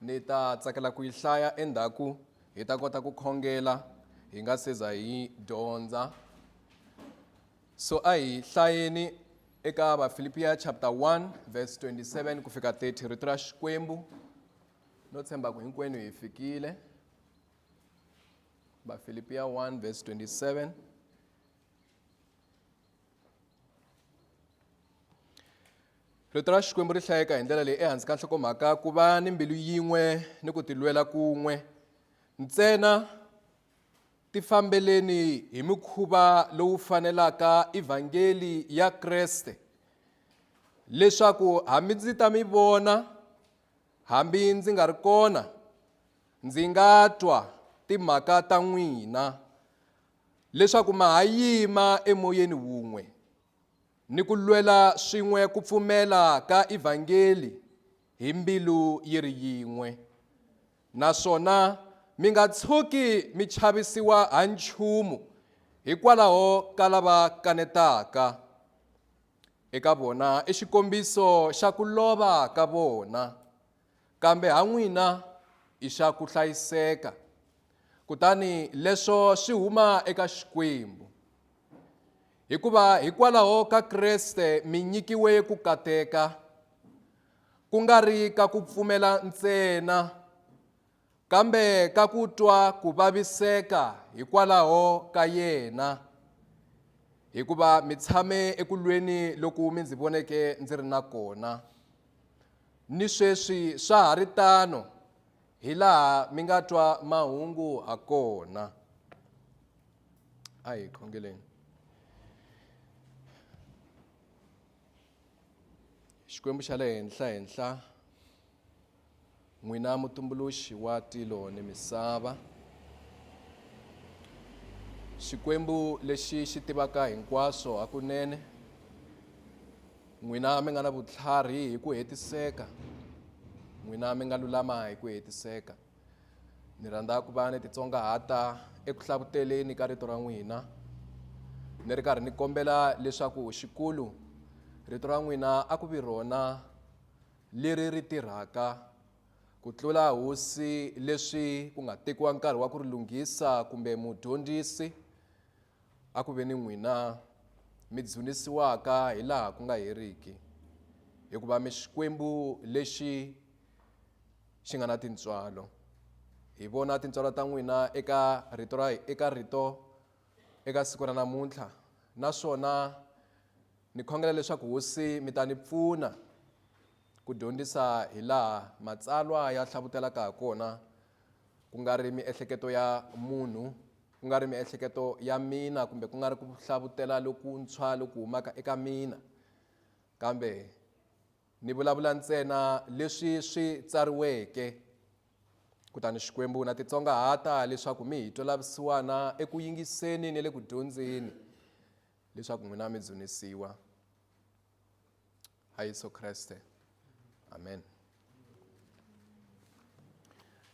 ni ta tsakela ku yi hlaya endzhaku hi ta kota ku khongela hi nga se za hi dyondza so a hi hlayeni eka vafilipiya chapter 1 verse 27 ku fika 30 rito ra xikwembu no tshemba ku hinkwenu hi fikile vafilipiya 1 verse 27 rito ra xikwembu ri hlayeka hi ndlela leyi ehansi ka nhlokomhaka ku va ni mbilu yin'we ni ku tilwela kun'we ntsena ti fambeleni hi mikhuva lowu fanelaka evhangeli ya kreste leswaku hambi ndzi ta mi vona hambi ndzi nga ri kona ndzi nga twa timhaka ta n'wina leswaku ma ha yima emoyeni wun'we ni ku lwela swin'we ku pfumela ka ivhangeli hi mbilu yi ri yin'we naswona mi nga tshuki mi chavisiwa ha nchumu hikwalaho ka lava kanetaka eka vona i xikombiso xa ku lova ka vona Kambe ha n'wina i xa ku hlayiseka, kutani leswo swi huma eka Xikwembu. Hikuva hikwalaho ka Kreste mi nyikiwe ku kateka, ku nga ri ka ku pfumela ntsena, Kambe ka ku twa ku vaviseka hikwalaho ka yena, hikuva mi tshame eku lweni loku mi ndzi voneke ndzi ri na kona. Ni sweswi swa ha ri tano, hi laha mi nga twa mahungu ha kona. A hi khongeleni. Xikwembu xa le henhla henhla. N'wina mutumbuluxi wa tilo ni misava, Xikwembu lexi xi tivaka hinkwaswo hakunene, n'wina mi nga na vutlhari hi ku hetiseka, n'wina mi nga lulama hi ku hetiseka. Ni rhandza ku va ni titsongahata eku hlakuteleni ka rito ra n'wina ni ri karhi ni kombela leswaku xikulu rito ra n'wina a ku vi rona leri ri tirhaka ku tlula hosi leswi ku nga tekiwa nkarhi wa ku ri lunghisa kumbe mudyondzisi a ku ve ni n'wina mi dzunisiwaka hi laha ku nga heriki hikuva mi xikwembu lexi xi nga na tintswalo hi vona tintswalo ta n'wina eka rito ra eka rito eka siku ra namuntlha naswona Ni khongela leswaku Hosi mi ta ni pfuna ku dyondzisa hi laha Matsalwa ya hlavutelaka ha kona, ku nga ri miehleketo ya munhu, ku nga ri miehleketo ya mina kumbe ku nga ri ku hlavutela lokuntshwa loku humaka eka mina, kambe ni vulavula ntsena leswi swi tsariweke, kutani Xikwembu na titsongahata leswaku mi hi twa lavusiwana eku yingiseni ni le ku dyondzeni Leswaku n'wina mi dzunisiwa ha Yesu Kreste. Amen.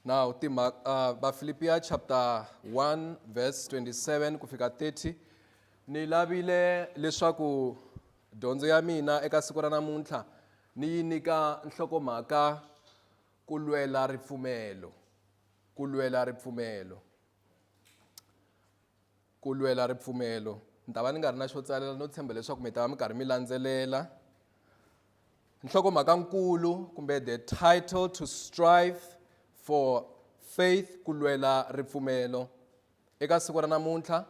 Now, tima, uh, Bafilipiya chapter 1 verse 27 ku fika 30 ni lavile leswaku dyondzo ya mina eka siku ra namuntlha ni yi nyika nhlokomhaka ku lwela ripfumelo ku lwela ripfumelo ku lwela ripfumelo ni ta va ni nga ri na xo tsalela no tshemba leswaku mi ta va mi karhi mi landzelela nhlokomhaka nkulu kumbe the title to strive for faith ku lwela ripfumelo eka siku ra namuntlha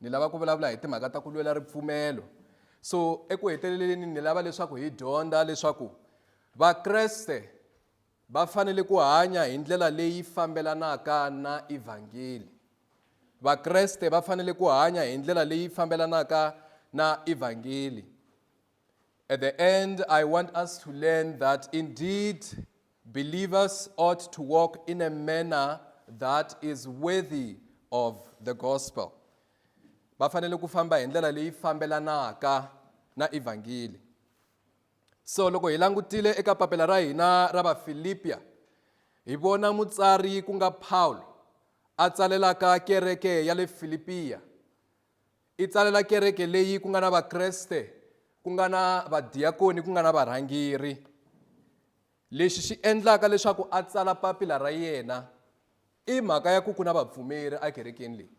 ni lava ku vulavula hi timhaka ta ku lwela ripfumelo so eku heteleleni ni lava leswaku hi dyondza leswaku vakreste Va fanele ku hanya hi ndlela leyi fambelanaka na Evhangeli. Vakreste va fanele ku hanya hi ndlela leyi fambelanaka na Evhangeli. At the end, I want us to learn that indeed believers ought to walk in a manner that is worthy of the gospel. Va fanele ku famba hi ndlela leyi fambelanaka na Evhangeli. So loko hi langutile eka papila ra hina ra Vafilipya, hi vona mutsari ku nga Pawulo a tsalelaka kereke ya le Filipiya. I tsalela kereke leyi ku nga na Vakreste, ku nga na vadiyakoni, ku nga na varhangeri. Lexi xi endlaka leswaku a tsala papila ra yena i mhaka ya ku ku na vapfumeri ekerekeni leyi.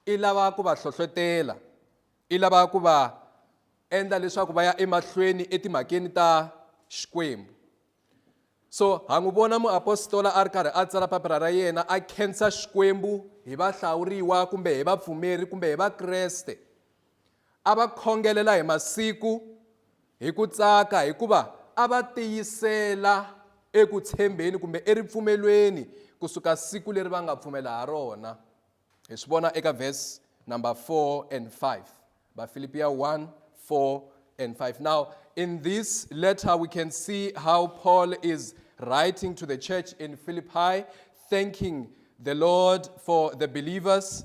I lava ku va hlohlotela, i lava ku va endla leswaku va ya emahlweni etimhakeni ta Xikwembu. So ha n'wi vona muapostola a ri karhi a tsala papila ra yena a khensa Xikwembu hi vahlawuriwa kumbe hi vapfumeri kumbe hi Vakreste. A va khongelela hi masiku hi ku tsaka hikuva a va tiyisela eku tshembeni kumbe eripfumelweni kusuka siku leri va nga pfumela ha rona hi swi vona eka verse number 4 and 5 vafilipiya 1 4 and 5 now in this letter we can see how paul is writing to the church in philippi thanking the lord for the believers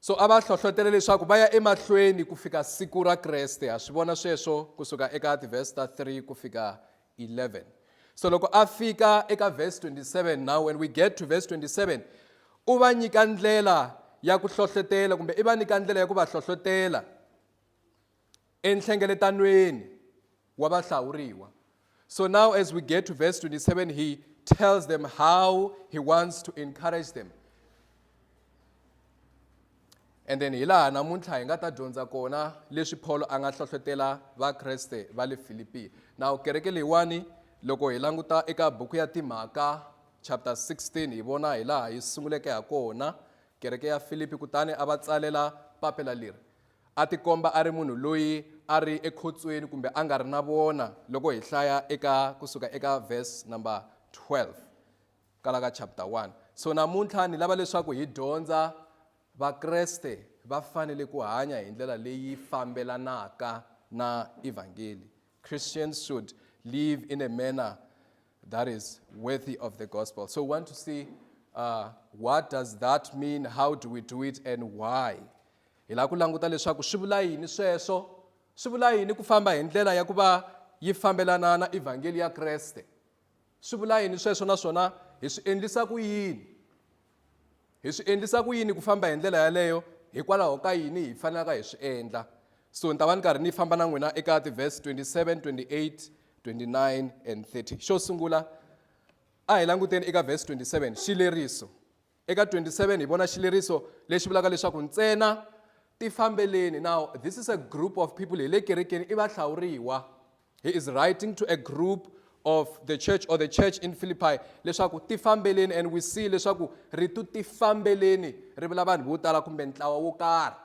so a va hlohlotele leswaku va ya emahlweni ku fika siku ra kreste ha swi vona sweswo kusuka eka tivhesi ta 3 ku fika 11 so loko a fika eka vhesi 27 now when we get to vhesi 27 u va nyika ndlela ya ku hlohlotela kumbe i va nyika ndlela ya ku va hlohlotela enhlengeletanweni wa vahlawuriwa. So now as we get to verse 27, he tells them how he wants to encourage them. And then hi laha namuntlha hi nga ta dyondza kona leswi Paulo a nga hlohlotela Vakreste va le Filipi. Now kereke leyiwani loko hi languta eka buku ya Timhaka chapter 16 hi vona hi laha yi sunguleke ha kona kereke ya Filipi kutani a va tsalela papila leri. A tikomba a ri munhu loyi a ri ekhotsweni kumbe a nga ri na vona loko hi hlaya eka ku suka eka verse number 12 kala ka chapter 1. So namuntlha ni lava leswaku hi dyondza Vakreste va fanele ku hanya hi ndlela leyi fambelanaka na evhangeli. Christians should live in a manner that is worthy of the gospel. So we want to see uh, what does that mean, how do we do it and why? Hi lava ku languta leswaku swi vula yini sweswo, swi vula yini ku famba hi ndlela ya ku va yi fambelana na evhangeli ya Kreste. Swi vula yini sweswo naswona hi swi endlisa ku yini? Hi swi endlisa ku yini ku famba hi ndlela yaleyo hikwalaho ka yini hi fanelaka hi swi endla? So ni ta va ni karhi ni famba na n'wina eka tiverse 27, 28, 29 and 30. Xo sungula a hi languteni eka verse 27 xileriso. Eka 27 hi vona xileriso lexi vulaka leswaku ntsena tifambeleni. Now this is a group of people hi le kerekeni i vahlawuriwa. He is writing to a group of the church or the church in Philippi leswaku ti fambeleni and we see leswaku ritu ti fambeleni ri vula vanhu vo tala kumbe ntlawa wo karhi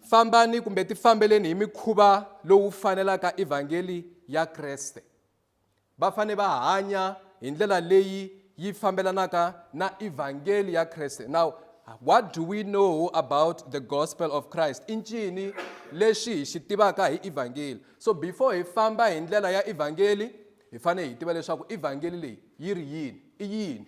fambani kumbe ti fambeleni hi mikhuva lowu fanelaka evhangeli ya Kreste va fanele va hanya hi ndlela leyi yi fambelanaka na evhangeli ya kreste now what do we know about the gospel of christ i ncini lexi hi xi tivaka hi evhangeli so before hi famba hi ndlela ya evhangeli hi fanele hi tiva leswaku evhangeli leyi yi ri yini i yini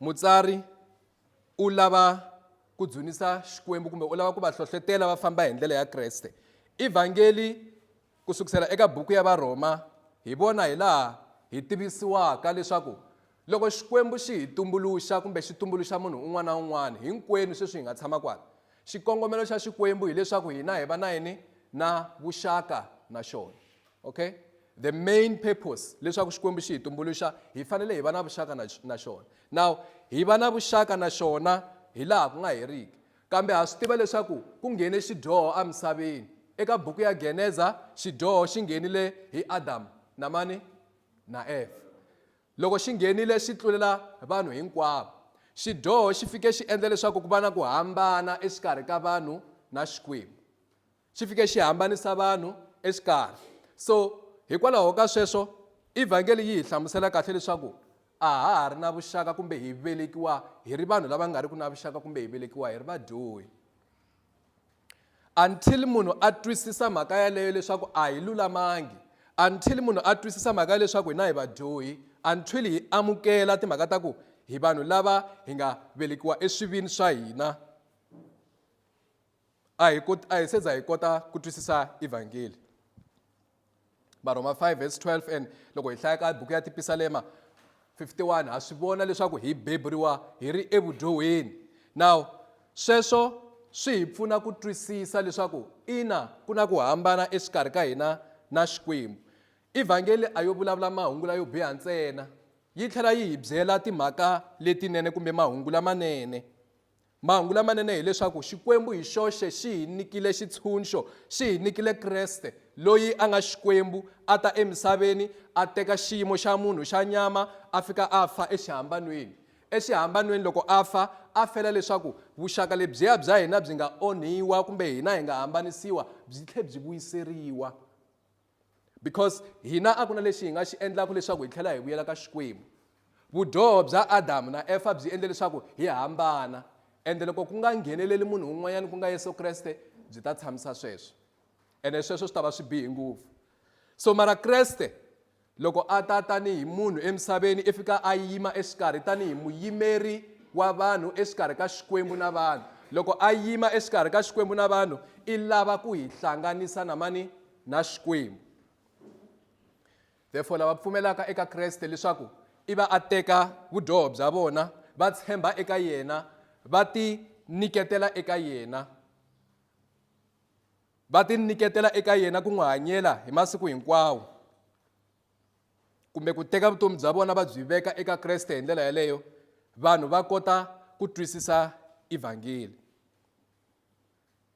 Mutsari u lava ku dzunisa Xikwembu kumbe u lava ku va hlohlotela va famba hi ndlela ya Kreste. I Vhangeli ku sukusela eka buku ya Varhoma hi vona hi laha hi tivisiwaka leswaku loko Xikwembu xi hi tumbuluxa kumbe xi tumbuluxa munhu un'wana na un'wana hinkwenu sweswi hi nga tshama kwala, xikongomelo xa Xikwembu hileswaku hina hi va na yini? Na vuxaka na xona. okay the main purpose leswaku xikwembu xi hi tumbuluxa hi fanele hi va na vuxaka na, na xona now hi va na vuxaka na xona hi laha ku nga heriki kambe ha swi tiva leswaku ku nghene xidyoho emisaveni eka buku ya geneza xidyoho xi nghenile hi adamu na mani na eva loko xi nghenile xi tlulela vanhu hinkwavo xidyoho xi fike xi endla leswaku ku va na ku hambana exikarhi ka vanhu na xikwembu xi fike xi hambanisa vanhu exikarhi. So, hikwalaho ka sweswo, Evhangeli yi hi hlamusela kahle leswaku a ha ha ri na vuxaka kumbe hi velekiwa hi ri vanhu lava nga riki na vuxaka kumbe hi velekiwa hi ri vadyohi. Until munhu a twisisa mhaka yaleyo leswaku a hi lulamangi, until munhu a twisisa mhaka ya leswaku hina hi vadyohi, until hi amukela timhaka ta ku hi vanhu lava hi nga velekiwa eswivini swa hina, a hi koti a hi se za hi kota ku twisisa evhangeli varhoma 5 vs 12 and loko hi hlaya ka buku ya tipisalema 51 ha swi vona leswaku hi beburiwa hi ri evudyohweni now sweswo swi hi pfuna ku twisisa leswaku ina ku na ku hambana exikarhi ka hina na xikwembu evhangeli a yo vulavula mahungu layo biha ntsena yi tlhela yi hi byela timhaka letinene kumbe mahungu lamanene Mahungu lamanene hi leswaku Xikwembu hi xoxe xi hi nyikile xitshunxo, xi hi nyikile Kreste, loyi a nga Xikwembu, a ta emisaveni, a teka xiyimo xa munhu xa nyama, a fika a fa exihambanweni. Exihambanweni, loko a fa, a fela leswaku vuxaka lebyiya bya hina byi nga onhiwa kumbe hina hi nga hambanisiwa byi tlhe byi vuyiseriwa. Because hina a ku na lexi hi nga xi endlaka leswaku hi tlhela hi vuyela ka Xikwembu. Vudyoho bya Adamu na Efa byi endle leswaku hi hambana, ende loko ku nga ngheneleli munhu un'wanyana ku nga Yesu Kreste, byi ta tshamisa sweswo. Ene sweswo swi ta va swi bihe ngopfu. So mara Kreste loko a ta tanihi munhu emisaveni i fika a yima exikarhi tanihi muyimeri wa vanhu exikarhi ka Xikwembu na vanhu. Loko a yima exikarhi ka Xikwembu na vanhu i lava ku hi hlanganisa na mani? na Xikwembu. Therefore lava pfumelaka eka Kreste leswaku i va a teka vudyoho bya vona va tshemba eka yena va ti nyiketela eka yena va ti nyiketela eka yena ku n'wi hanyela hi masiku hinkwawo kumbe ku teka vutomi bya vona va byi veka eka Kreste hi ndlela yaleyo vanhu va kota ku twisisa evhangeli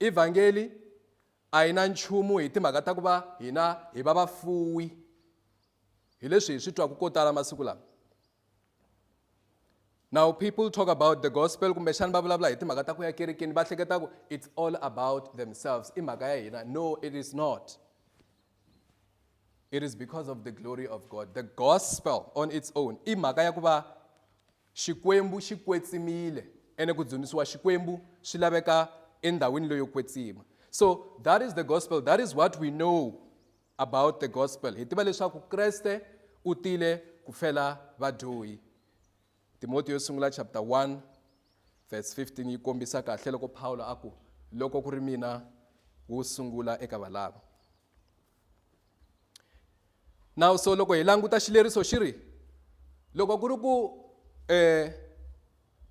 evhangeli a yi na nchumu hi timhaka ta ku va hina hi va vafuwi hi leswi hi swi twaku ko tala masiku lama now people talk about the gospel kumbexani va vulavula hi timhaka ta ku ya kerekeni va hleketa ku it's all about themselves i mhaka ya hina no it is not it is because of the glory of god the gospel on its own i mhaka ya ku va xikwembu xi kwetsimile ene ku dzunisiwa xikwembu swi laveka endhawini leyo kwetsima so that is the gospel that is what we know about the gospel hi tiva leswaku kreste u tile ku fela vadyohi Timotiyo yo sungula chapter 1 verse 15 yi kombisa kahle loko Pawulo a ku loko ku ri mina wo sungula eka valava. Nawu so loko hi languta xileriso xi ri loko ku ri ku eh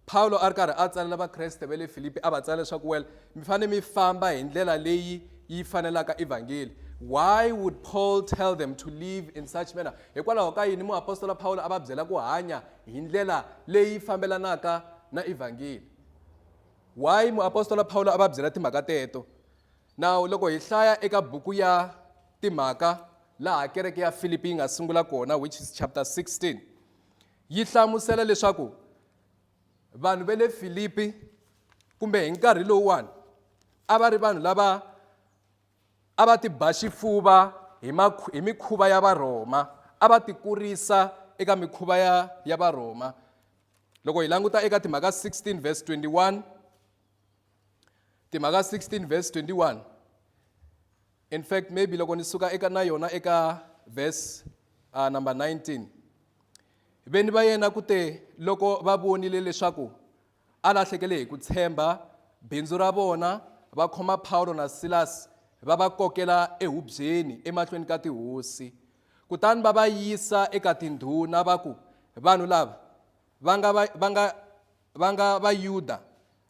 Pawulo a ri karhi a tsalela Vakreste va le Filipi a va tsala leswaku well mi fanele mi famba hi ndlela leyi yi fanelaka evhangeli why would Paul tell them to live in such manner Hikwalaho ka yini muapostola Pawulo a va byela ku hanya hi ndlela leyi fambelanaka na Evhangeli? Why muapostola Pawulo a va byela timhaka teto? Now loko hi hlaya eka buku ya Timhaka laha kereke ya Filipi yi nga sungula kona which is chapter 16 yi hlamusela leswaku vanhu va le Filipi kumbe hi nkarhi lowuwani a va ri vanhu lava A va ti ba xifuva hi, hi mikhuva ya Varhoma, a va ti kurisa eka mikhuva ya, ya Varhoma. Loko hi languta eka timhaka 16 verse 21, timhaka 16 verse 21 in fact maybe loko ni suka eka na yona eka verse uh, number 19 veni va yena ku te loko va vonile leswaku A lahlekele hi ku tshemba bindzu ra vona, va khoma Pawulo na Silasi va va kokela ehubyeni emahlweni ka tihosi. Kutani va va yisa eka tindhuna va ku, Vanhu lava va nga va, va nga, va nga Vayuda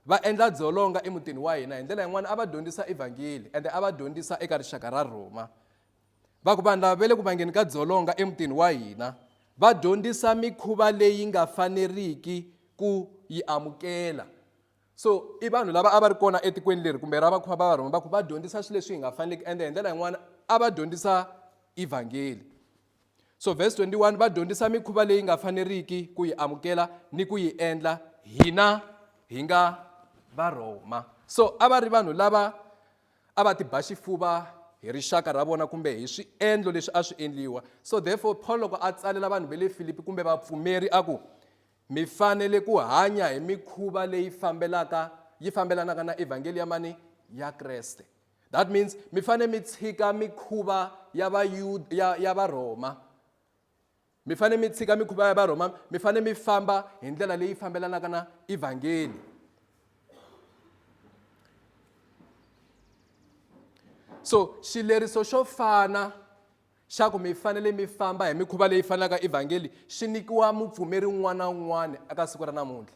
va endla dzolonga emutini wa hina. Hi ndlela yin'wana a va dyondzisa Evhangeli ende a va dyondzisa eka rixaka ra Rhoma. va ku vanhu lava ve le ku vangeni ka dzolonga emutini wa hina va dyondzisa mikhuva leyi nga faneriki ku yi amukela so i vanhu lava a va ri kona etikweni leri kumbe ra vakhuva va va rhoma va ku va dyondzisa swilo leswi hi nga faneleki ende hi ndlela yin'wana a va dyondzisa evhangeli so verse 21 va dyondzisa mikhuva leyi nga faneriki ku yi amukela ni ku yi endla hina hi nga varhoma so a va ri vanhu lava A va ti ba xifuva hi rixaka ra vona kumbe hi swiendlo leswi a swi endliwa. So therefore, Paul loko a tsalela vanhu va le Filipi kumbe vapfumeri a ku, Mi fanele ku hanya hi mikhuva leyi fambelaka yi fambelanaka na evhangeli ya mani? Ya Kreste. That means mi fanele mi tshika mikhuva ya Vayuda ya, ya Varhoma. Mi fanele mi tshika mikhuva ya Varhoma, mi fanele mi famba hi ndlela leyi fambelanaka na Evhangeli. So xileriso xo fana xa ku mi fanele mi famba hi mikhuva leyi fanaka Evhangeli xi nyikiwa mupfumeri un'wana na un'wana eka siku ra namuntlha.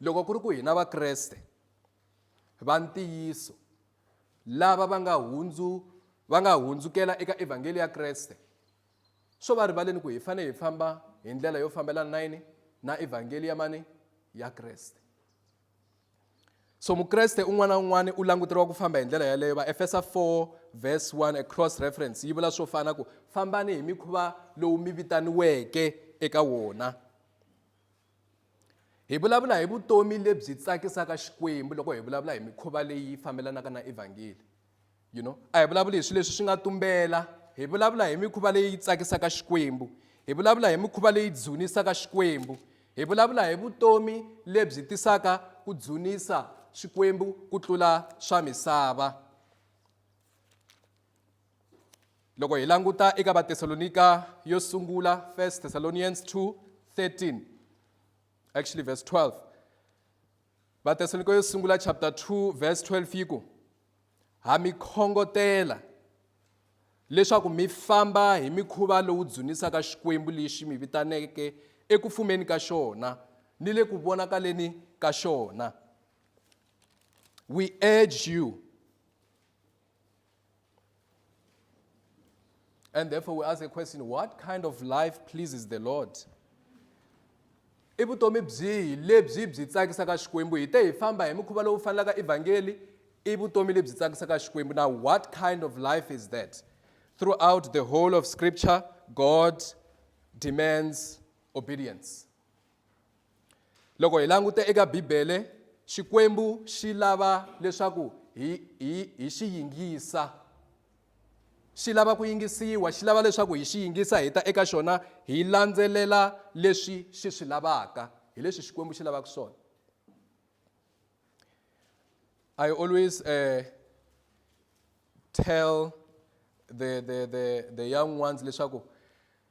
Loko ku ri ku hina Vakreste va ntiyiso lava va nga hundzu va nga hundzukela eka evhangeli ya Kreste, swo va rivaleni ku hi fanele hi famba hi ndlela yo fambelana na yini na evhangeli ya mani ya Kreste. So Mukreste un'wana na un'wana u languteriwa ku famba hi ndlela yaleyo. Vaefesa 4 verse 1 a cross reference yi vula swo fana ku fambani hi mikhuva lowu mi vitaniweke eka wona. Hi vulavula hi vutomi lebyi tsakisaka Xikwembu loko hi vulavula hi mikhuva leyi fambelanaka na evhangeli. You know, a hi vulavuli hi swilo leswi swi nga tumbela, hi vulavula hi mikhuva leyi tsakisaka Xikwembu, hi vulavula hi mikhuva leyi dzunisaka Xikwembu, hi vulavula hi vutomi lebyi tisaka ku dzunisa Xikwembu ku tlula swa misava. loko hi languta eka vatesalonika yo sungula 1 thessalonians 2 13 actually verse 12 vatesalonika yo sungula chapter 2 verse 12 yi ku ha mi khongotela leswaku mi famba hi mikhuva lowu dzunisaka xikwembu lexi mi vitaneke eku fumeni ka xona ni le ku vonakaleni ka xona we urge you And therefore, we ask a question what kind of life pleases the Lord? i vutomi byihi lebyi byi tsakisaka xikwembu hi te hi famba hi mukhuva lowu fanelaka evhangeli i vutomi lebyi tsakisaka xikwembu now what kind of life is that throughout the whole of scripture god demands obedience loko hi languta eka bibele xikwembu xi lava leswaku hi hi hi xi yingisa xi lava ku yingisiwa xi lava leswaku hi xi yingisa hi ta eka xona hi landzelela leswi xi swi lavaka hi leswi xikwembu xi lavaka swona i always uh, tell the, the, the, the young ones leswaku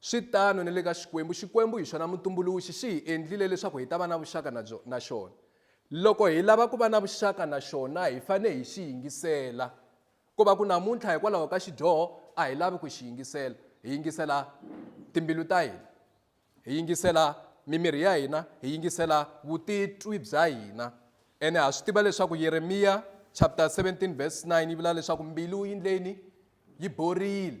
Swi tano ni le ka Xikwembu. Xikwembu hi xona Mutumbuluxi xi hi endlile leswaku hi ta va na vuxaka na byo, na xona. Loko hi lava ku va na vuxaka na xona, hi fanele hi xi yingisela. Ko va ku namuntlha hikwalaho ka xidyoho a hi lavi ku xi yingisela, hi yingisela timbilu ta hina, hi yingisela mimiri ya hina, hi yingisela vutitwi bya hina. Ene ha swi tiva leswaku Yeremiya chapter 17 verse 9 yi vula leswaku mbilu yi ndleni? Yi borile.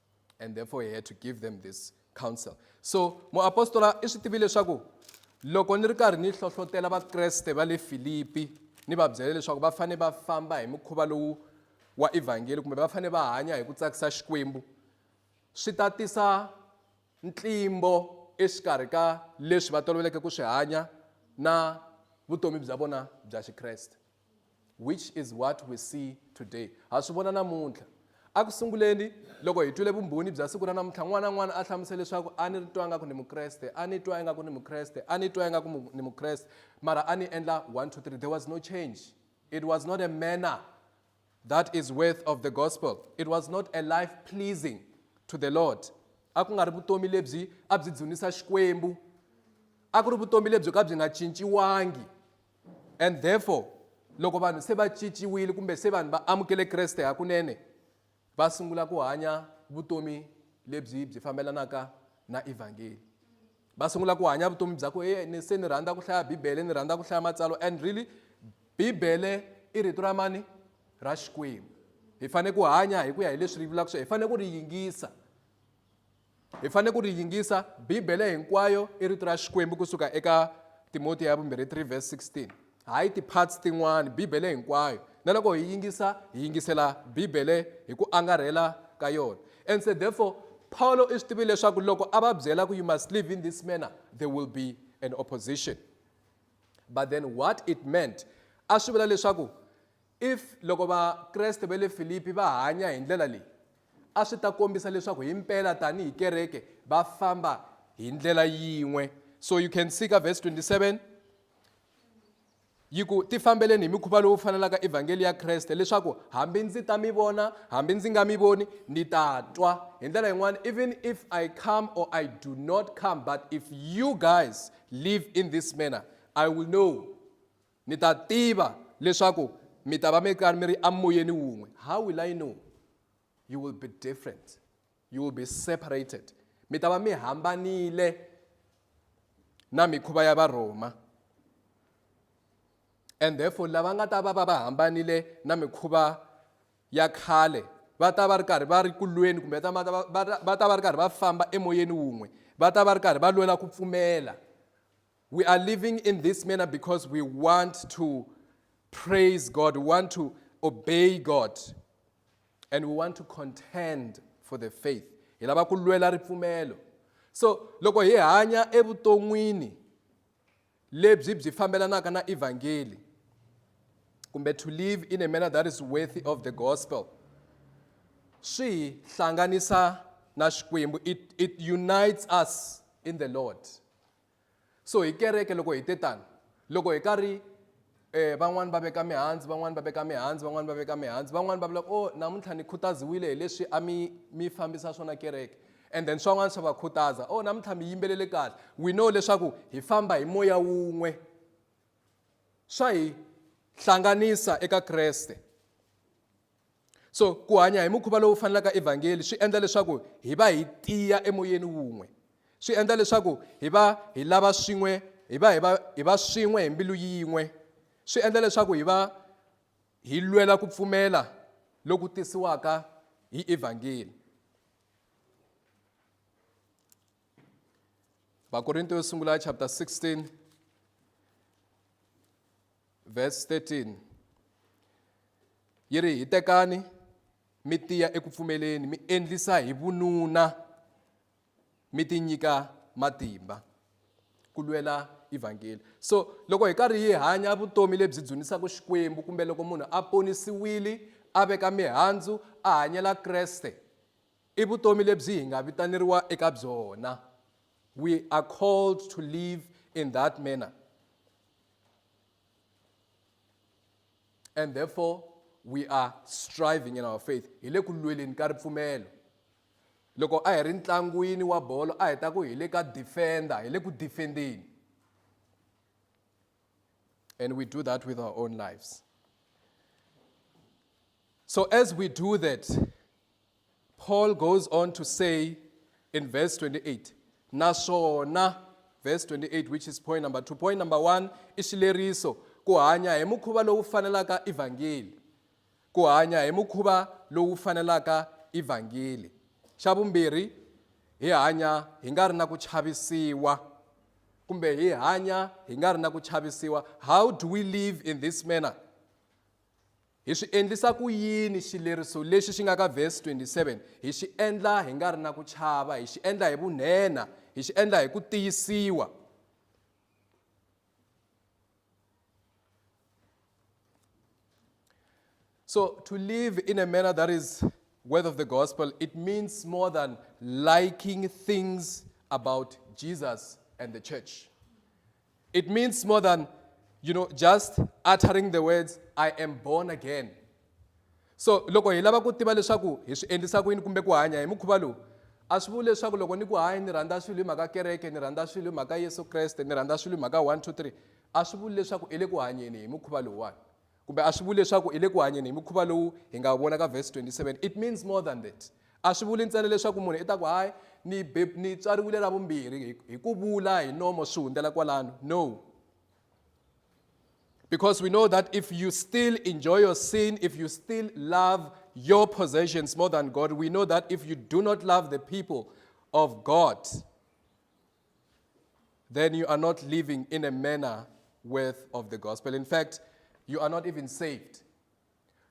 and therefore he had to give them this counsel so muapostola i swi tivi leswaku loko ni ri karhi ni hlohlotela vakreste va le filipi ni va byela leswaku va fanele va famba hi mukhuva lowu wa evhangeli kumbe va fanele va hanya hi ku tsakisa xikwembu swi ta tisa ntlimbo exikarhi ka leswi va toloveleke ku swi hanya na vutomi bya vona bya xikreste Which is what we see today. Ha swi vona namuntlha. Eku sunguleni, loko hi twile vumbhoni bya siku ra namuntlha, n'wana na n'wana a hlamusela leswaku a ni twa ingaku ni Mukreste, a ni twa ingaku ni Mukreste, a ni twa ingaku ni Mukreste, mara a ni endla one, two, three. There was no change. It was not a manner that is worth of the gospel. It was not a life pleasing to the Lord. A ku nga ri vutomi lebyi a byi dzunisa Xikwembu. A ku ri vutomi lebyo ka byi nga cinciwangi. and therefore loko vanhu se va ciciwile kumbe se vanhu va amukele kreste hakunene va sungula ku hanya vutomi lebyi byi fambelanaka na evhangeli va sungula ku hanya vutomi bya ku e ni se ni rhandza ku hlaya bibele ni rhandza ku hlaya matsalwa and really bibele i rito ra mani ra xikwembu hi fanele ku hanya hi ku ya hi leswi ri vulaka swo hi fanele ku ri yingisa Hi fanele ku ri yingisa. Bibele hinkwayo i Rito ra Xikwembu ku suka eka Timotiya ya vumbirhi 3 verse 16. Hayi ti-parts tin'wana, Bibele hinkwayo. Na loko hi yingisa, hi yingisela Bibele hi ku angarhela ka yona. And said therefore, Pawulo i swi tivile leswaku loko a va byela ku you must live in this manner, there will be an opposition. But then what it meant, a swi vula leswaku if loko Vakreste va le Filipi va hanya hi ndlela leyi, a swi ta kombisa leswaku himpela tanihi kereke va famba hi ndlela yin'we so you can see ka verse 27 yi ku ti fambeleni hi mikhuva lowu fanelaka evhangeli ya kreste leswaku hambi ndzi ta mi vona hambi ndzi nga mi voni ni ta twa hi ndlela yin'wana even if i come or i do not come but if you guys live in this manner i will know Mi ta tiva leswaku mi ta va mi karhi mi ri amoyeni wun'we. How will I know? You will be different. You will be separated. Mi ta va mi hambanile na mikhuva ya Varhoma. And therefore lava nga ta va va va hambanile na mikhuva ya khale va ta va ri karhi va ri kulweni kumbe va ta va ri karhi va famba emoyeni wun'we va ta va ri karhi va lwela ku pfumela We are living in this manner because we want to praise God, we want to obey God, and we want to contend for the faith. Hi lava ku lwela ripfumelo. So loko hi hanya evuton'wini lebyi byi fambelanaka na evhangeli kumbe to live in a manner that is worthy of the gospel swi hlanganisa na xikwembu it, it unites us in the lord so hi kereke loko hi te tani loko hi karhi eh van'wani va veka mihandzu van'wani va veka mihandzu van'wani va veka mihandzu van'wani va vula o namuntlha ni khutaziwile hi leswi a mi mi fambisa swona kereke and then swan'wana swa va khutaza o namuntlha mi yimbelele kahle we know leswaku hi famba hi moya wun'we swa hi hlanganisa eka kreste so ku hanya hi mukhuva lowu fanelaka evhangeli swi endla leswaku hi va hi tiya emoyeni wun'we swi endla leswaku hi va hi lava swin'we hi va hi va hi va swin'we hi mbilu yin'we swi endla leswaku hi va hi lwela ku pfumela loku tisiwaka hi evhangeli vakorinto yo sungula chapter 16 Vhesi 13 yi ri, Hitekani mi tiya eku pfumeleni, mi endlisa hi vununa, mi tinyika matimba ku lwela evhangeli. So loko hi karhi hi hanya vutomi lebyi dzunisaka Xikwembu kumbe loko munhu a ponisiwile a veka mihandzu a hanyela Kreste i vutomi lebyi hi nga vitaneriwa eka byona. We are called to live in that manner. and therefore we are striving in our faith hi le ku lweleni ka ripfumelo loko a hi ri ntlangwini wa bolo a hi ta ku hi le ka defender hi le ku defendeni and we do that with our own lives so as we do that Paul goes on to say in verse 28, naswona verse 28 which is point number 2 point number 1 i xileriso ku hanya hi mukhuva lowu fanelaka evhangeli ku hanya hi mukhuva lowu fanelaka evhangeli xa vumbirhi hi hanya hi nga ri na ku chavisiwa kumbe hi hanya hi nga ri na ku chavisiwa how do we live in this manner Hi swi endlisa ku yini xileriso lexi xi nga ka vhesi 27? Hi xi endla hi nga ri na ku chava, hi xi endla hi vunhenha, hi xi endla hi ku tiyisiwa. So, to live in a manner that is worth of the gospel, it means more than liking things about Jesus and the church. It means more than, you know, just uttering the words, I am born again. So loko hi lava ku tiva leswaku hi swi endlisa ku yini kumbe ku hanya hi mukhuva lowu a swi vuli leswaku loko ni ku hanya ni rhandza swilo hi mhaka kereke ni rhandza swilo hi mhaka yesu kreste ni rhandza swilo hi mhaka one two three a swi vuli leswaku i le ku hanyeni hi mukhuva lowuwani Kumbe a swi vuli leswaku hi le ku hanyeni hi mukhuva lowu hi nga wu vona ka vhesi 27. It means more than that. A swi vuli ntsena leswaku munhu i ta ku, Hayi, ni be, ni tswariwile ra vumbirhi, hi, hi ku vula hi nomo swi hundzela kwalano. No. Because we know that if you still enjoy your sin, if you still love your possessions more than God, we know that if you do not love the people of God, then you are not living in a manner worth of the gospel. In fact, you are not even saved.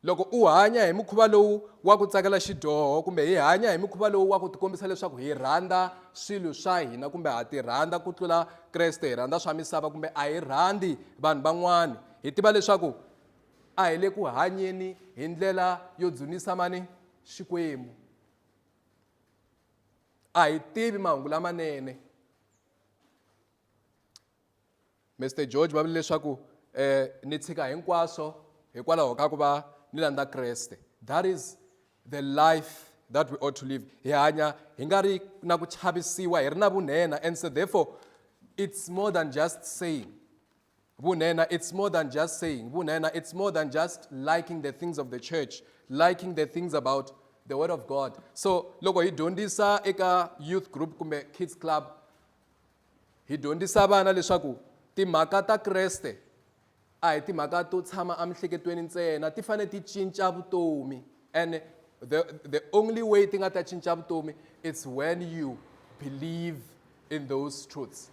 loko u hanya hi mukhuva lowu wa ku tsakela xidyoho kumbe hi hanya hi mukhuva lowu wa ku tikombisa leswaku hi rhandza swilo swa hina kumbe ha ti rhandza ku tlula kreste hi rhandza swa misava kumbe a hi rhandzi vanhu van'wana hi tiva leswaku a hi le ku hanyeni hi ndlela yo dzunisa mani xikwembu a hi tivi mahungu lamanene Mr George va vule leswaku um ni tshika hinkwaswo hikwalaho ka ku va ni landza kreste that is the life that we ought to live hi hanya hi nga ri na ku chavisiwa hi ri na vunhenha and so therefore it's more than just saying Vunhenha it's more than just saying. Vunhenha it's more than just liking the things of the church, liking the things about the word of God. So loko hi dyondzisa eka youth group kumbe kids club hi dyondzisa vana leswaku timhaka ta Kreste a hi timhaka to tshama emihleketweni ntsena ti fanele ti cinca vutomi. and the, the only way ti nga ta cinca vutomi it's when you believe in those truths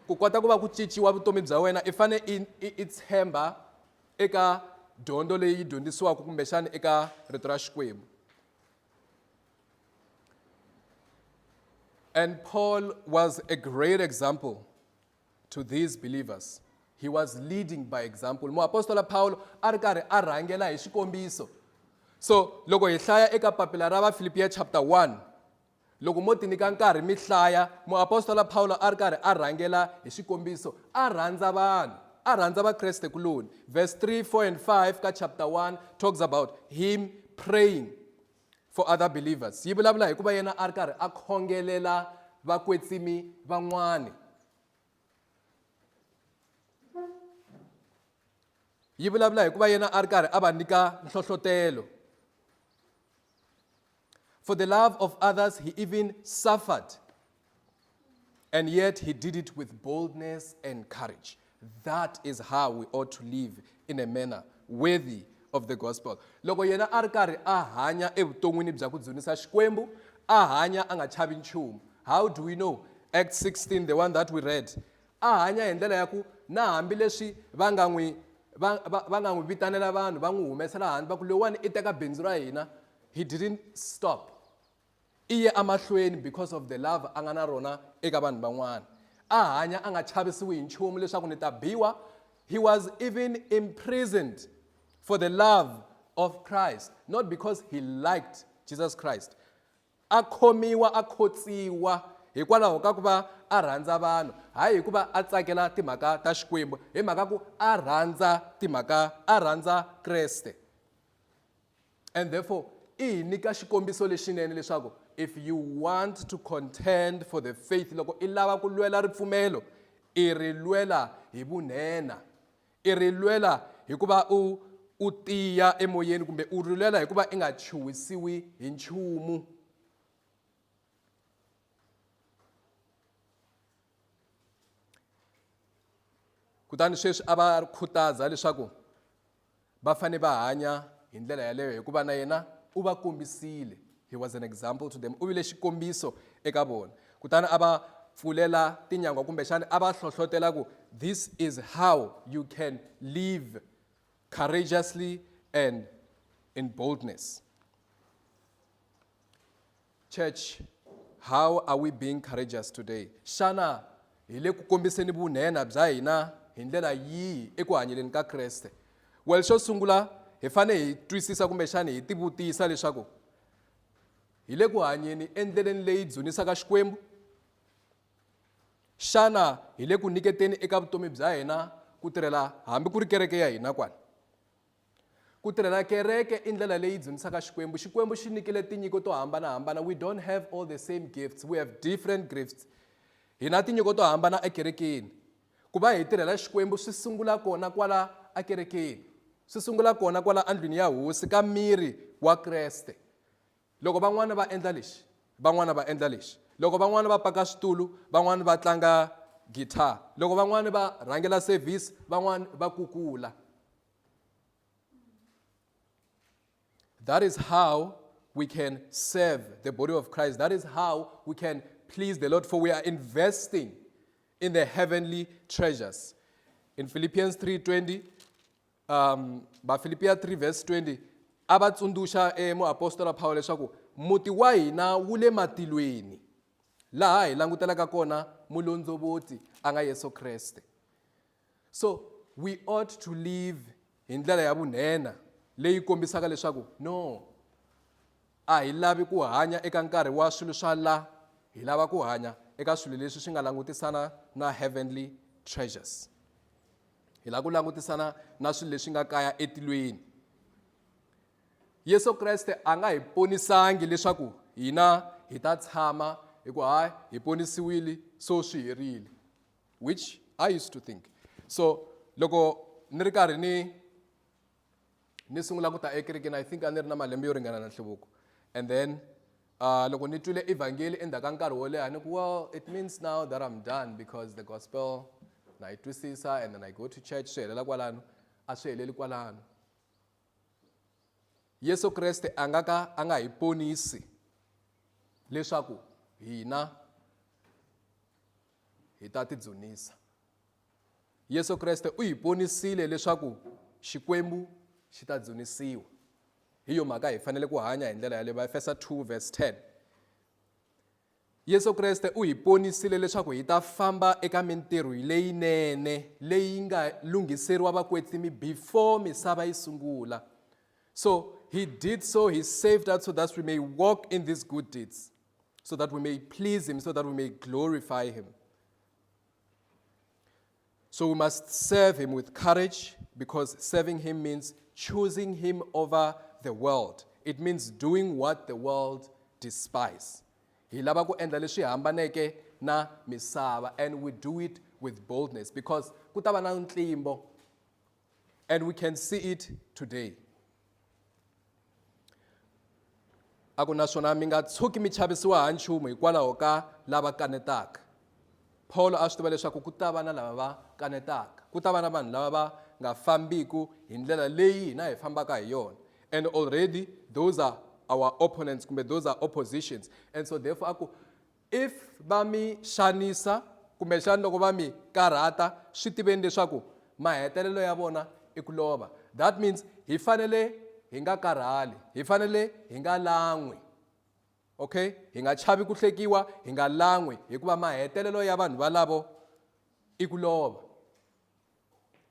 ku kota ku va ku cinciwa vutomi bya wena i fane i, i, i tshemba eka dyondzo leyi yi dyondzisiwaka kumbexana eka rito ra xikwembu and paul was a great example to these believers he was leading by example muapostola pawulo a ri karhi a rhangela hi xikombiso so loko hi hlaya eka papila ra vafilipiya chapter 1 loko mo tinyika nkarhi mi hlaya muapostola pawulo a ri karhi a rhangela hi xikombiso a rhandza vanhu a rhandza vakreste kuloni verse 3 4 and 5 ka chapter 1 talks about him praying for other believers yi vulavula hi ku va yena a ri karhi a khongelela vakwetsimi van'wana yi vulavula hi ku va yena a ri karhi a va nyika nhlohlotelo for the love of others he even suffered And yet he did it with boldness and courage. That is how we ought to live in a manner worthy of the gospel. Loko yena a ri karhi a hanya evuton'wini bya ku dzunisa Xikwembu, a hanya a nga chavi nchumu. How do we know? Act 16, the one that we read. A hanya hi ndlela ya ku na hambileswi va nga n'wi va nga n'wi vitanela vanhu va n'wi humesela handle va ku lowani i teka bindzu ra hina he didn't stop I ye emahlweni because of the love a nga na rona eka vanhu van'wana. A hanya a nga chavisiwi hi nchumu leswaku ni ta biwa, he was even imprisoned for the love of Christ, not because he liked Jesus Christ. A khomiwa a khotsiwa hikwalaho ka ku va a rhandza vanhu, hayi hi ku va a tsakela timhaka ta Xikwembu, hi mhaka ku a rhandza timhaka a rhandza Kreste. And therefore, i hi nyika xikombiso lexinene leswaku if you want to contend for the faith loko i lava ku lwela ripfumelo i ri lwela hi vunhenha i ri lwela hikuva u u tiya emoyeni kumbe u ri lwela hikuva i nga chuhisiwi hi nchumu kutani sweswi a va khutaza leswaku Va fanele va hanya hi ndlela yaleyo hikuva na yena u va kombisile, He was an example to them, u vile xikombiso eka vona. Kutani a va pfulela tinyangwa kumbexana a va hlohlotela ku, This is how you can live courageously and in boldness. Church, How are we being courageous today? Xana hi le ku kombiseni vunhenha bya hina hi ndlela yihi eku hanyeleni ka Kreste? Well, xo sungula hi fane hi twisisa kumbexani hi tivutisa leswaku hi le ku hanyeni endleleni leyi dzunisaka Xikwembu? Xana hi le ku nyiketeni eka vutomi bya hina ku tirhela hambi ku ri kereke ya hina kwani? Ku tirha na kereke i ndlela leyi dzunisaka Xikwembu. Xikwembu xi nyikile tinyiko to hambana-hambana. We don't have all the same gifts, we have different grifts. Hi na tinyiko to hambana ekerekeni. Ku va hi tirhela Xikwembu swi sungula kona kwala akerekeni. Swi sungula kona kwala andlwini ya Hosi ka miri wa Kreste. Loko van'wana va endla lexi, van'wana va endla lexi. Loko van'wana va paka switulu, van'wana va tlanga guitar. Loko van'wana va rhangela service, van'wana va kukula. That is how we can serve the body of Christ. That is how we can please the Lord, for we are investing in the heavenly treasures. In Philippians 3:20, um vafilipiya 3 vhesi 20 a va tsundzuxa emuapostola pawulo leswaku muti wa hina wu le matilweni laha hi langutelaka kona mulondzovotsi a nga yesu kreste so we ought to live hi ndlela ya vunhenha leyi kombisaka leswaku no a hi lavi ku hanya eka nkarhi wa swilo swa la hi lava ku hanya eka swilo leswi swi nga langutisana na heavenly treasures hi lava ku langutisana na swilo leswi nga kaya etilweni yesu kreste a nga hi ponisangi leswaku hina hi ta tshama hi ku hayi hi ponisiwile so swi herile which i used to think so loko ni ri karhi ni ni sungula ku ta ekerekeni i think a ni ri na malembe yo ringana na nhluvuko and then uh, loko ni twile evhangeli endzhaku ka nkarhi wo leha ni ku well it means now that i'm done because the gospel na yi twisisa and then i go to church swi helela kwalano a swi heleli kwalano yesu kreste a nga ka a nga hi ponisi leswaku hina hi ta tidzunisa Yesu Kreste u hi vonisile leswaku Xikwembu xi ta dzunisiwa. Hi yo mhaka hi fanele ku hanya hi ndlela yaleyo. Vaefesa 2 verse 10. Yesu Kreste u hi vonisile leswaku hi ta famba eka mintirho leyinene leyi nga lunghiseriwa vakwetsimi before misava yi sungula. So he did so, he saved us so that we may walk in these good deeds, so that we may please him, so that we may glorify him. So we must serve him with courage because serving him means choosing him over the world. It means doing what the world despises. Hi lava ku endla leswi hambaneke na misava and we do it with boldness because ku ta va na ntlimbo and we can see it today. A ku naswona mi nga tshuki mi chavisiwa ha nchumu hikwalaho ka lava kanetaka. Paulo a swi tiva leswaku ku ta va na lava va kanetaka, ku ta va na vanhu lava va nga fambiku hi ndlela leyi hina hi fambaka hi yona. And already those are our opponents kumbe those are oppositions. And so therefore a ku If va mi xanisa kumbexana loko va mi karhata swi tiveni leswaku mahetelelo ya vona i ku lova that means hi fanele hi nga karhali hi fanele hi nga lan'wi okay hi nga chavi ku hlekiwa hi nga lan'wi hikuva mahetelelo ya vanhu valavo i ku lova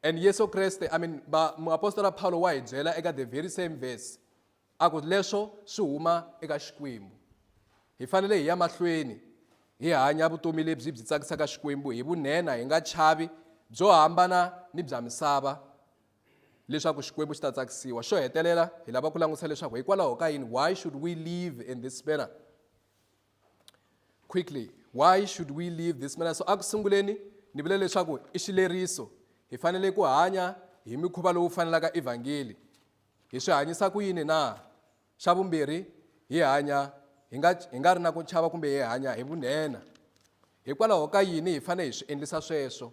and yesu kreste i mean muapostola paulo wa hi byela eka the very same verse A ku leswo swi huma eka Xikwembu. Hi fanele hi ya mahlweni hi hanya vutomi lebyi byi tsakisaka Xikwembu hi vunhenha hi nga chavi byo hambana ni bya misava leswaku Xikwembu xi ta tsakisiwa. Xo hetelela hi lava ku langutisa leswaku hikwalaho ka yini why should we live in this manner? Quickly, why should we live this manner? So a ku sunguleni ni vule leswaku i xileriso hi fanele ku hanya hi mikhuva lowu fanelaka evhangeli Hi swi hanyisa ku yini na? Xa vumbirhi, hi hanya hi nga, hi nga ri na ku chava kumbe hi hanya hi vunhenha. Hikwalaho ka yini hi fanele hi swi endlisa sweswo?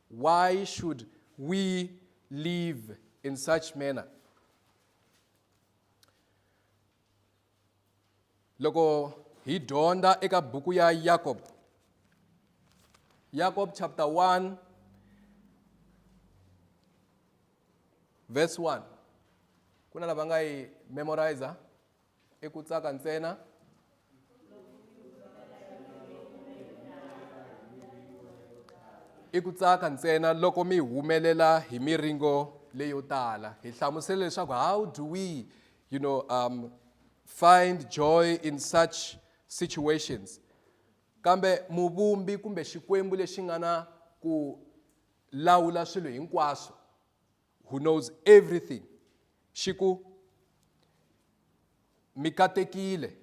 Why should we live in such manner? loko hi dyondza eka buku ya yakob yakob chapter 1 verse 1 ku na lava nga yi memorizer i ku tsaka ntsena i ku tsaka ntsena loko mi humelela hi miringo leyo tala hi hlamusele leswaku how do we you know, um, find joy in such situations. Kambe muvumbi kumbe xikwembu lexi nga na ku lawula swilo hinkwaswo who knows everything xi ku mi katekile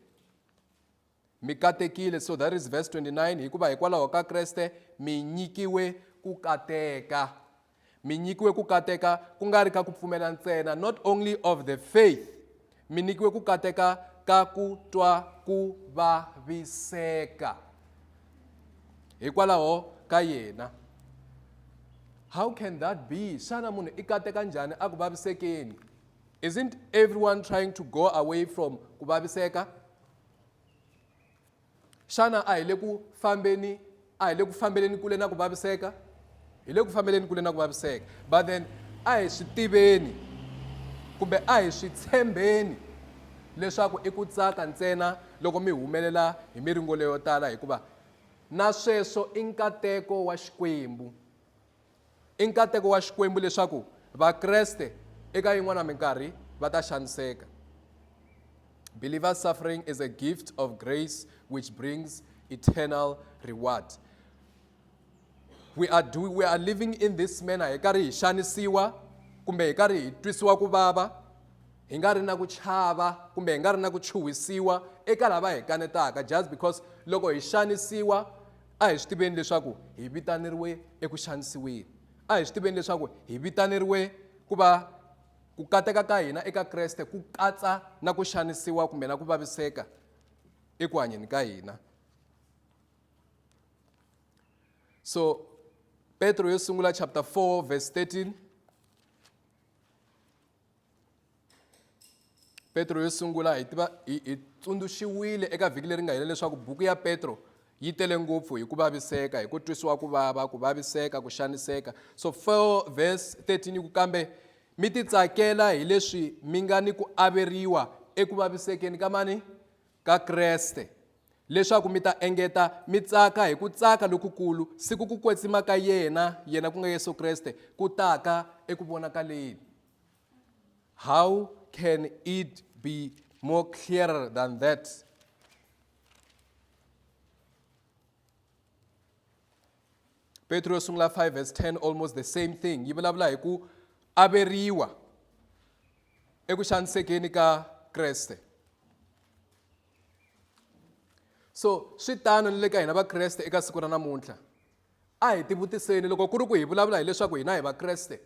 Mi katekile, so that is verse 29, hikuva hikwalaho ka Kreste mi nyikiwe ku kateka. Mi nyikiwe ku kateka ku nga ri ka ku pfumela ntsena, not only of the faith. Mi nyikiwe ku kateka ka ku twa ku vaviseka hikwalaho ka yena how can that be xana munhu i kateka njhani a ku vavisekeni isn't everyone trying to go away from ku vaviseka xana a hi le ku fambeni a hi le ku fambeleni kule na ku vaviseka hi le ku fambeleni kule na ku vaviseka but then a hi swi tiveni kumbe a hi swi tshembeni leswaku i ku tsaka ntsena loko mi humelela hi miringo leyo tala hikuva na sweswo i nkateko wa xikwembu I nkateko wa Xikwembu leswaku Vakreste eka yin'wana minkarhi va ta xaniseka. Believer's suffering is a gift of grace which brings eternal reward. We are, do, we are living in this manner hi karhi hi xanisiwa kumbe hi karhi hi twisiwa ku vava hi nga ri na ku chava kumbe hi nga ri na ku chuhisiwa eka lava hi kanetaka just because loko hi xanisiwa a hi swi tiveni leswaku hi vitaneriwe eku xanisiweni a hi swi tiveni leswaku hi vitaneriwe ku va ku kateka ka hina eka kreste ku katsa na ku xanisiwa kumbe na ku vaviseka eku hanyeni ka hina so petro yo sungula chapter 4 verse 13 petro yo sungula hi tiva hi tsundzuxiwile eka vhiki leri nga hela leswaku buku ya petro yi tele ngopfu hi ku vaviseka hi ku twisiwa ku vava ku vaviseka ku xaniseka so 4 verse 13 yi ku kambe mi titsakela hi leswi mi nga ni ku averiwa eku vavisekeni ka mani ka kreste leswaku mi ta engeta mi tsaka hi ku tsaka lokukulu siku ku kwetsima ka yena yena ku nga yesu kreste ku taka eku vonakaleni how can it be more clearer than that petro yo sungula 5 verse 10 almost the same thing yi vulavula hi ku averiwa eku xanisekeni ka kreste so swi tano ni le ka hina vakreste eka siku ra namuntlha a hi tivutiseni loko ku ri ku hi vulavula hileswaku hina hi vakreste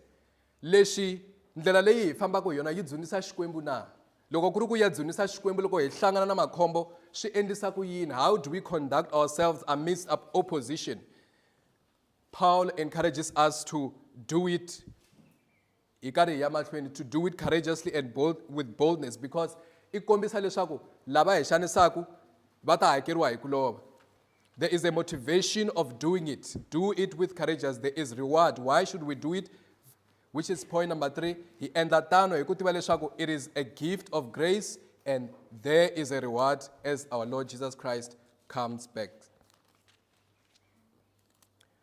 leswi ndlela leyi hi fambaka hi yona yi dzunisa xikwembu na loko ku ri ku ya dzunisa xikwembu loko hi hlangana na makhombo swi endlisa ku yini how do we conduct ourselves amidst opposition paul encourages us to do it hi karhi hi ya mahlweni to do it courageously and bold, with boldness because i kombisa leswaku lava hi xanisaku va ta hakeriwa hi ku lova there is a motivation of doing it do it with courageous there is reward why should we do it which is point number three hi endla tano hi ku tiva leswaku it is a gift of grace and there is a reward as our lord jesus christ comes back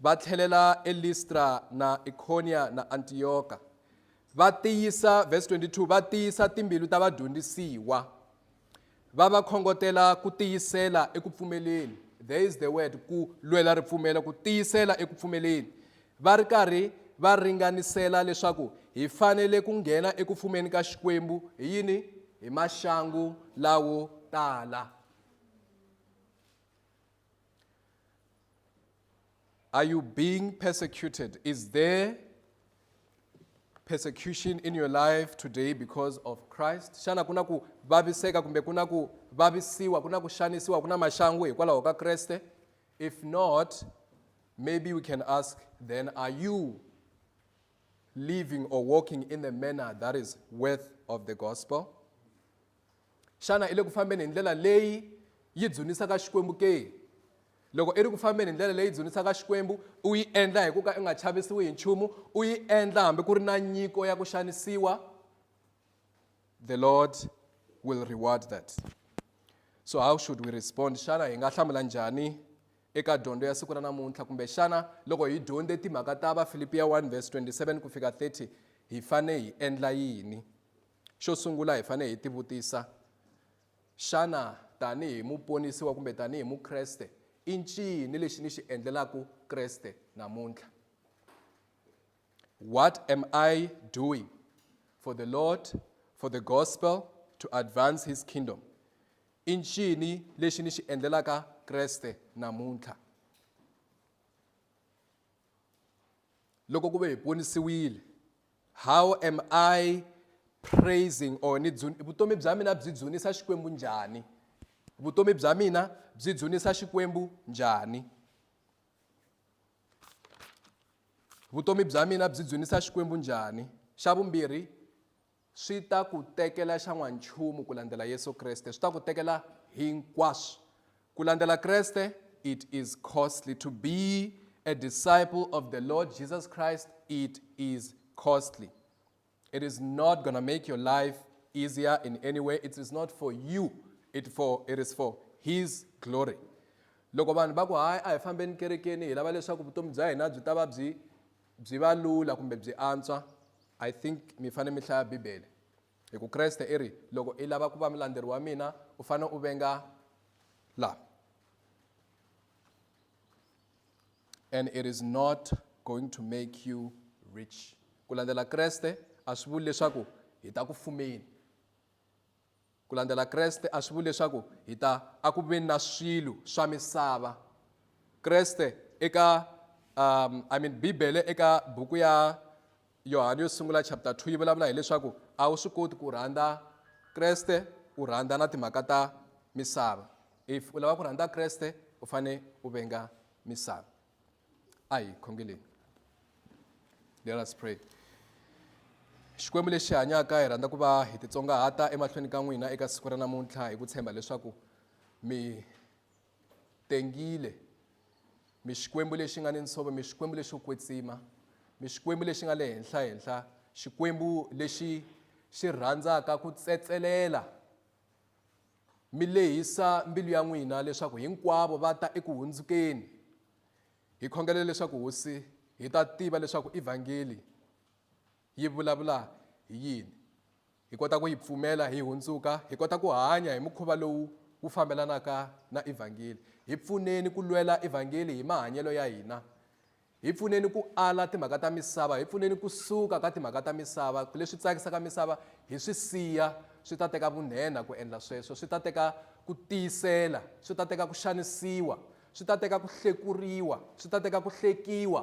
va tlhelela eListra na Ikhonia na Antiyoka, va tiyisa, verse 22, va tiyisa timbilu ta vadyondzisiwa, va va khongotela ku tiyisela eku pfumeleni. There is the word, ku lwela ripfumelo, ku tiyisela eku pfumeleni. Va ri karhi va ringanisela leswaku hi fanele ku nghena eku fumeni ka Xikwembu hi yini? Hi maxangu lawo tala. Are you being persecuted? Is there persecution in your life today because of Christ? Xana kuna ku vaviseka kumbe kuna ku vavisiwa, kuna ku xanisiwa, kuna maxangu hikwalaho ka Kreste? If not, maybe we can ask then are you living or walking in the manner that is worth of the gospel? Xana i le ku fambeni hi ndlela leyi yi dzunisaka Xikwembu ke? Loko i ri ku fambeni hi ndlela leyi dzunisaka Xikwembu, u yi endla hi ku ka i nga chavisiwi hi nchumu, u yi endla hambi ku ri na nyiko ya ku xanisiwa, the Lord will reward that. So how should we respond? Xana hi nga hlamula njhani eka dyondzo ya siku ra namuntlha kumbe xana loko hi dyondze timhaka ta vafilipiya 1 vs 27 ku fika 30 hi fane hi endla yini xo sungula hi fanele hi tivutisa xana tanihi muponisiwa kumbe tanihi mukreste i ncini lexi ni xi endlelaku kreste namuntlha what am i doing for the lord for the gospel to advance his kingdom i ncini lexi ni xi endlelaka kreste namuntlha loko ku ve hi ponisiwile how am i praising or ni vutomi bya mina byi dzunisa xikwembu njhani vutomi bya mina byi dzunisa xikwembu njhani vutomi bya mina byi dzunisa xikwembu njhani xa vumbirhi Swi ta ku tekela xa n'wanchumu ku landzela Yesu Kreste. Swi ta ku tekela hinkwaswo. Ku landzela Kreste, it is costly. To be a disciple of the Lord Jesus Christ, it is costly. It is not going to make your life easier in any way. It is not for you. It, for, it is for his glory. Loko vanhu va ku hayi a hi fambeni kerekeni hi lava leswaku vutomi bya hina byi ta va byi Byi va lula kumbe byi antswa, I think mi fane mi hlaya Bibele. Hi ku Kreste i ri, loko i lava ku va mulandzeri wa mina, u fane u venga la. And it is not going to make you rich. Ku landzela Kreste a swi vuli leswaku hi ta ku fumeni. Ku landzela Kreste a swi vuli leswaku hi ta eku veni na swilo swa misava. Kreste eka um, I mean Bibele eka buku ya Yohana yo sungula chapter 2 yi vulavula hileswaku a wu swi koti ku rhandza Kreste u rhandza na timhaka ta misava. If u lava ku rhandza Kreste u fane u venga misava. ayi khongeleni let us pray xikwembu lexi hanyaka hi rhandza ku va hi titsongahata emahlweni ka n'wina eka siku ra namuntlha hi ku tshemba leswaku mi tengile mi xikwembu lexi nga ni nsove mi xikwembu lexo kwetsima mi xikwembu lexi nga le henhla henhla xikwembu lexi xi rhandzaka ku tsetselela Mi lehisa mbilu ya n'wina leswaku hinkwavo va ta eku hundzukeni. Hi khongela leswaku Hosi hi ta tiva leswaku Evhangeli yi vulavula hi yini. Hi kota ku yi pfumela hi hundzuka, hi kota ku hanya hi mukhuva lowu wu fambelanaka na Evhangeli. Hi pfuneni ku lwela Evhangeli hi mahanyelo ya hina. Hi pfuneni ku ala timhaka ta misava, hi pfuneni ku suka ka timhaka ta misava, leswi tsakisaka misava hi swi siya, swi ta teka vunhenha ku endla sweswo, swi ta teka ku tiyisela, swi ta teka ku xanisiwa, swi ta teka ku hlekuriwa, swi ta teka ku hlekiwa.